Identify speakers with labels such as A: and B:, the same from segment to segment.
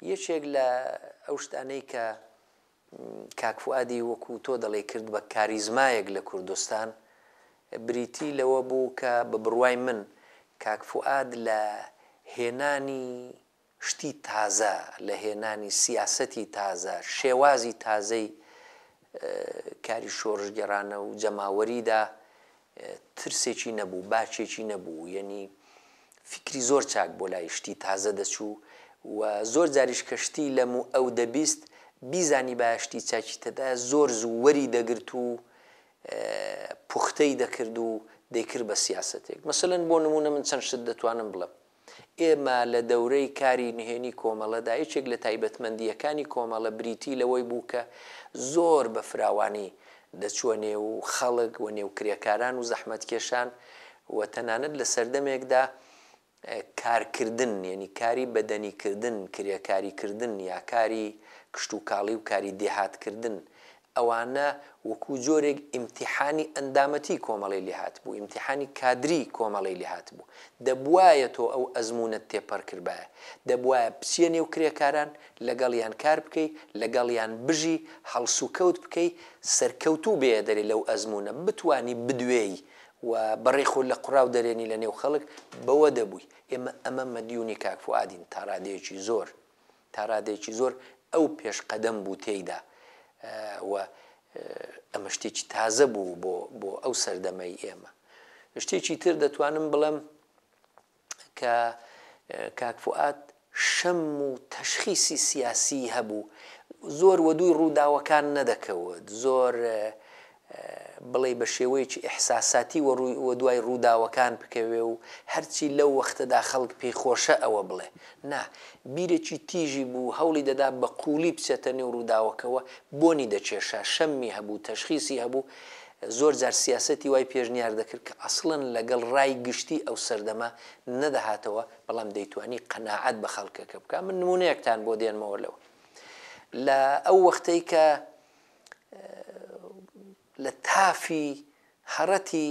A: یەکێک لە ئەو شتانەی کە کاک فوادی وەکو تۆ دەڵێ کرد بە کاریزمایەک لە کوردستان بریتی لەوە بوو کە بە بڕوای من کاک فواد لە هێنانی شتی تازە لە هێنانی سیاسەتی تازە، شێوازی تازەی کاری شۆڕشگێڕانە و جەماوەریدا ترسێکی نەبوو، باکێکی نەبوو، یەنی فیکری زۆر چاک بۆ لای شتی تازە دەچوو و زۆر جاریش کە شتی لەم و ئەو دەبیست بیزانیبایە شتی چاکی تێدایە زۆر زوو وەری دەگرت و پوختەی دەکرد و دەیکرد بە سیاسەتێک. مەسەلەن بۆ نموونە من چەند شت دەتوانم بڵێم. ئێمە لە دەورەی کاری نهێنی کۆمەڵەدا یەکێک لە تایبەتمەندییەکانی کۆمەڵە بریتی لەوەی بوو کە زۆر بە فراوانی دەچووە نێو خەڵک و نێو کرێکاران و زەحمەتکێشان و تەنانەت لە سەردەمێکدا کارکردن یەنی کاری بەدەنیکردن کرێکاریکردن یا کاری کشتوکاڵی و کاری دێهاتکردن ئەوانە وەکو جۆرێک ئیمتیحانی ئەندامەتیی کۆمەڵەی لێ هاتبوو، ئیمتیحانی کادریی کۆمەڵەی لێ هاتبوو. دەبوایە تۆ ئەو ئەزموونەت تێپەڕ کردبایە. دەبوایە بچیە نێو کرێکاران، لەگەڵیان کار بکەی، لەگەڵیان بژی، هەڵسوکەوت بکەی، سەرکەوتوو بێیە دەرێ لەو ئەزموونە، بتوانی بدوێی و بەڕێی خۆت لە قوڕاو دەرێنی لەنێو خەڵک، بەوە دەبووی. ئێمە ئەمە مەدیونی کاک فوئادین تا ڕادەیەکی زۆر. تا ڕادەیەکی زۆر ئەو پێشقەدەم بوو تێیدا و ئەمە شتێکی تازە بوو بۆ بۆ ئەو سەردەمەی ئێمە. شتێکی تر دەتوانم بڵێم کە کاک فوئاد شەم و تەشخیسی سیاسیی هەبوو، زۆر وەدووی ڕووداوەکان نەدەکەوت، زۆر بڵێی بە شێوەیەکی ئیحساساتی وەدوای ڕووداوەکان بکەوێ و هەرچی لەو وەختەدا خەڵک پێی خۆشە ئەوە بڵێ. نا، بیرێکی تیژی بوو، هەوڵی دەدا بە قووڵی بچێتە نێو ڕووداوەکەوە، بۆنی دەکێشا، شەممی هەبوو، تەشخیسی هەبوو، زۆر جار سیاسەتی وای پێشنیار دەکرد کە ئەسڵەن لەگەڵ ڕای گشتی ئەو سەردەمە نەدەهاتەوە، بەڵام دەیتوانی قەناعەت بە خەڵکەکە بکا. من نموونەیەکتان بۆ دێنمەوە لەوە. لە ئەو وەختەی کە لە تافی هەڕەتی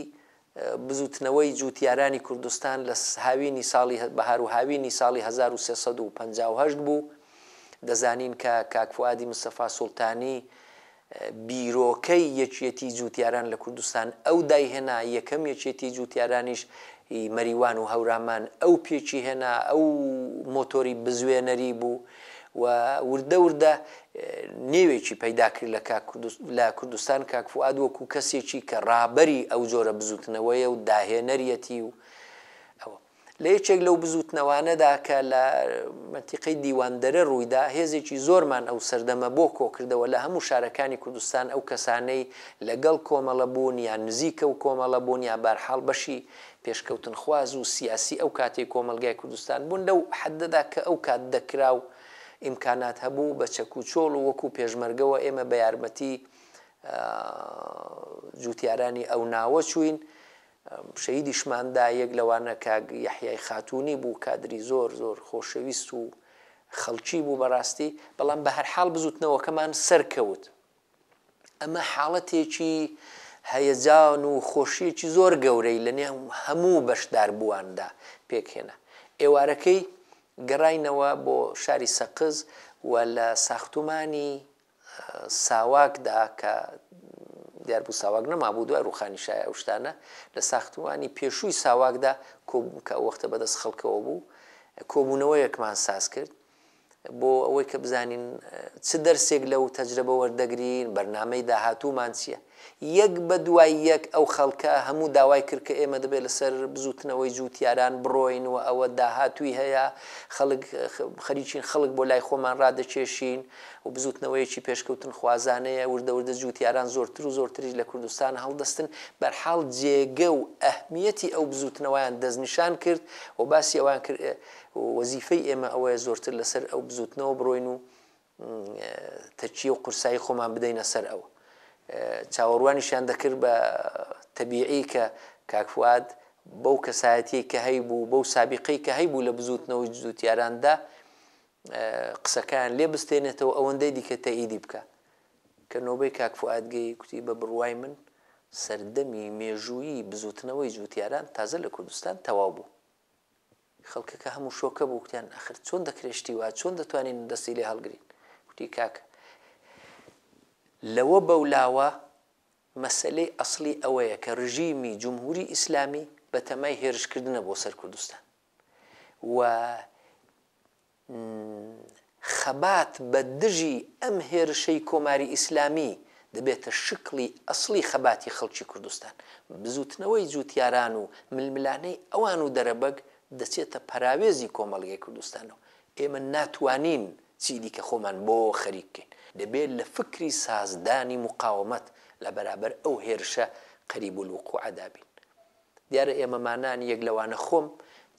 A: بزووتنەوەی جووتیارانی کوردستان لە هاوینی ساڵی بەهار و هاوینی ساڵی 1358 بوو دەزانین کە کاک فوادی مستەفا سوڵتانی بیرۆکەی یەکیەتی جووتیاران لە کوردستان ئەو دایهێنا یەکەم یەکێتی جووتیارانیش مەریوان و هەورامان ئەو پێکی هێنا ئەو مۆتۆری بزوێنەری بوو و وردە وردە نێوێکی پەیدا کرد لە کاک لە کوردستان کاک فوئاد وەکوو کەسێکی کە ڕابەری ئەو جۆرە بزووتنەوەیە و داهێنەریەتی و ئەوە لە یەکێک لەو بزووتنەوانەدا کە لە مەتیقەی دیواندەرە ڕوویدا هێزێکی زۆرمان ئەو سەردەمە بۆ کۆکردەوە لە هەموو شارەکانی کوردستان ئەو کەسانەی لەگەڵ کۆمەڵە بوون یا نزیکە و کۆمەڵە بوون یا بارحاڵ بەشی پێشکەوتنخواز و سیاسی ئەو کاتەی کۆمەڵگای کوردستان بوون لەو حەددەدا کە ئەو کات دەکرا و ئیمکانات هەبوو بە چەک و چۆڵ و وەکوو پێشمەرگەوە ئێمە بە یارمەتی جووتیارانی ئەو ناوە چووین شەهیدیشمان دا یەک لەوانە کاک یەحیای خاتوونی بوو کادری زۆر زۆر خۆشەویست و خەڵکی بوو بەڕاستی بەڵام بە هەرحاڵ بزووتنەوەکەمان سەرکەوت ئەمە حاڵەتێکی هەیەجان و خۆشییەکی زۆر گەورەی لە نێو هەموو بەشداربوواندا پێکهێنا. ئێوارەکەی گەڕاینەوە بۆ شاری سەقز و لە ساختومانی ساواکدا کە دیار بوو ساواک نەمابوو دوای ڕووخانیشای ئەو شتانە، لە ساختومانی پێشووی ساواکدا کۆبووین کە ئەو وەختە بەدەست خەڵکەوە بوو، کۆبوونەوەیەکمان ساز کرد. بۆ ئەوەی کە بزانین چ دەرسێک لەو تەجرەبە وەردەگرین، بەرنامەی داهاتوومان چییە. یەک بە دوای یەک ئەو خەڵکە هەموو داوای کرد کە ئێمە دەبێت لەسەر بزووتنەوەی جووتیاران بڕۆین و ئەوە داهاتووی هەیە، خەڵک خەریکین خەڵک بۆ لای خۆمان ڕادەکێشین و بزووتنەوەیەکی پێشکەوتنخوازانەیە، وردە وردە جووتیاران زۆرتر و زۆرتریش لە کوردستان هەڵدەستن. بەرحاڵ جێگە و ئەهمییەتی ئەو بزووتنەوەیان دەستنیشان کرد و باسی ئەوەیان کرد، وەزیفەی ئێمە ئەوەیە زۆرتر لەسەر ئەو بزووتنەوە بڕۆین و تەکیە و قورسایی خۆمان بدەینە سەر ئەو. چاوەڕوانیشیان دەکرد بە تەبیعی کە کاک فواد بەو کەسایەتیەی کە هەیبوو، بەو سابیقەی کە هەیبوو لە بزووتنەوەی جووتیاراندا قسەکەیان لێ بستێنێتەوە ئەوەندەی دیکە تەئیدی بکات. کە نۆبەی کاک فواد گەی کوتی بە بڕوای من سەردەمی مێژوویی بزووتنەوەی جووتیاران تازە لە کوردستان تەواو بوو. خەڵکەکە هەموو شۆکە بوو گوتیان ئەخر چۆن دەکرێت شتی وا چۆن دەتوانین دەستی لێ هەڵگرین گوتی کاکە لەوە بەولاوە مەسەلەی ئەسلی ئەوەیە کە رژیمی جمهوری ئیسلامی بەتەمای هێرشکردنە بۆ سەر کوردستان و خەبات بە دژی ئەم هێرشەی کۆماری ئیسلامی دەبێتە شکڵی ئەسڵی خەباتی خەڵکی کوردستان. بزووتنەوەی جووتیاران و ململانێی ئەوان و دەرەبەگ دەچێتە پەراوێزی کۆمەڵگەی کوردستانەوە. ئێمە ناتوانین چی دیکە خۆمان بۆ خەریک بکەین. دەبێت لە فکری سازدانی موقاومەت لە بەرابەر ئەو هێرشە قەریبولوقوعەدا بین. دیارە ئێمەمانان یەک لەوانە خۆم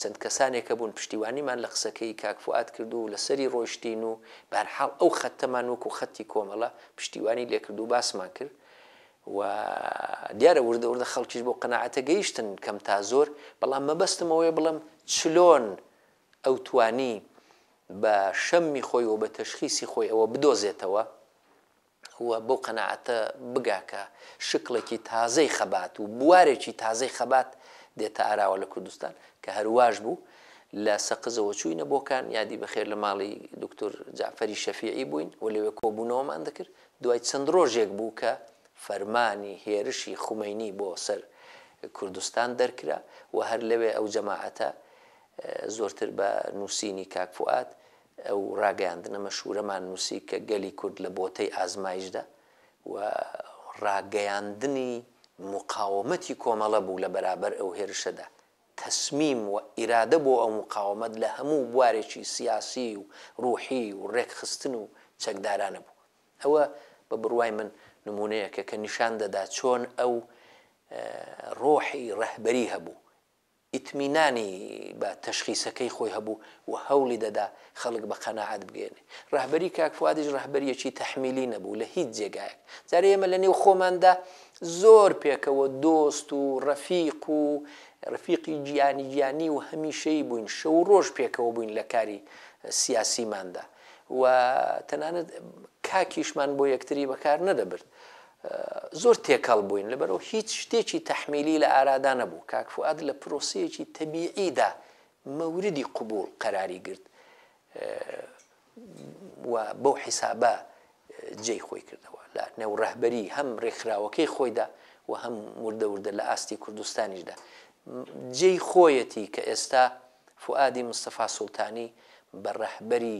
A: چەند کەسانێک هەبوون پشتیوانیمان لە قسەکەی کاک فوئاد کرد و لەسەری ڕۆیشتین و بەهەرحاڵ ئەو خەتەمان وەکو خەتی کۆمەڵە پشتیوانی لێکرد و باسمان کرد و دیارە وردە وردە خەڵکیش بەو قەناعەتە گەیشتن کەم تا زۆر بەڵام مەبەستم ئەوەیە بڵێم چلۆن ئەو توانی بە شەممی خۆی و بە تەشخیسی خۆی ئەوە بدۆزێتەوە و بەو قەناعەتە بگا کە شکڵێکی تازەی خەبات و بوارێکی تازەی خەبات دێتە ئاراوە لە کوردستان، کە هەرواش بوو، لە سەقزەوە چووینە بۆکان، یادی بەخێر لە ماڵی دوکتور جەعفەری شەفیعی بووین و لەوێ کۆبوونەوەمان دەکرد، دوای چەند ڕۆژێک بوو کە فەرمانی هێرشی خومەینی بۆ سەر کوردستان دەرکرا و هەر لەوێ ئەو جەماعەتە زۆرتر بە نووسینی کاک فوئاد ئەو ڕاگەیاندنە مەشهوورەمان نووسی کە گەلی کورد لە بۆتەی ئازمایشدا و ڕاگەیاندنی موقاومەتی کۆمەڵە بوو لە بەرابەر ئەو هێرشەدا. تەسمیم و ئیرادە بۆ ئەو موقاومەت لە هەموو بوارێکی سیاسی و ڕووحی و ڕێکخستن و چەکدارانە بوو. ئەوە بە بڕوای من نموونەیەکە کە نیشان دەدا چۆن ئەو ڕۆحی ڕەهبەری هەبوو ئیتمینانی بە تەشخیسەکەی خۆی هەبوو و هەوڵی دەدا خەڵک بە قەناعەت بگەیەنێ. رەهبەری کاک فوادیش رەهبەرییەکی تەحمیلی نەبوو لە هیچ جێگایەک. جارێ ئێمە لە نێو خۆماندا زۆر پێکەوە دۆست و رەفیق و رفیقی گیانی گیانی و هەمیشەیی بووین، شەو و رۆژ پێکەوە بووین لە کاری سیاسیماندا و تەنانەت کاکیشمان بۆ یەکتری بەکار نەدەبرد. زۆر تێکەڵ بووین لەبەرئەوە هیچ شتێکی تەحمیلی لە ئارادا نەبوو، کاک فوئاد لە پرۆسەیەکی تەبیعیدا مەوردی قبووڵ قەراری گرت و بەو حیسابە جێی خۆی کردەوە لە نێو ڕەهبەری هەم ڕێکخراوەکەی خۆیدا و هەم وردە وردە لە ئاستی کوردستانیشدا جێی خۆیەتی کە ئێستا فوئادی مستەفا سوڵتانی بە ڕەهبەری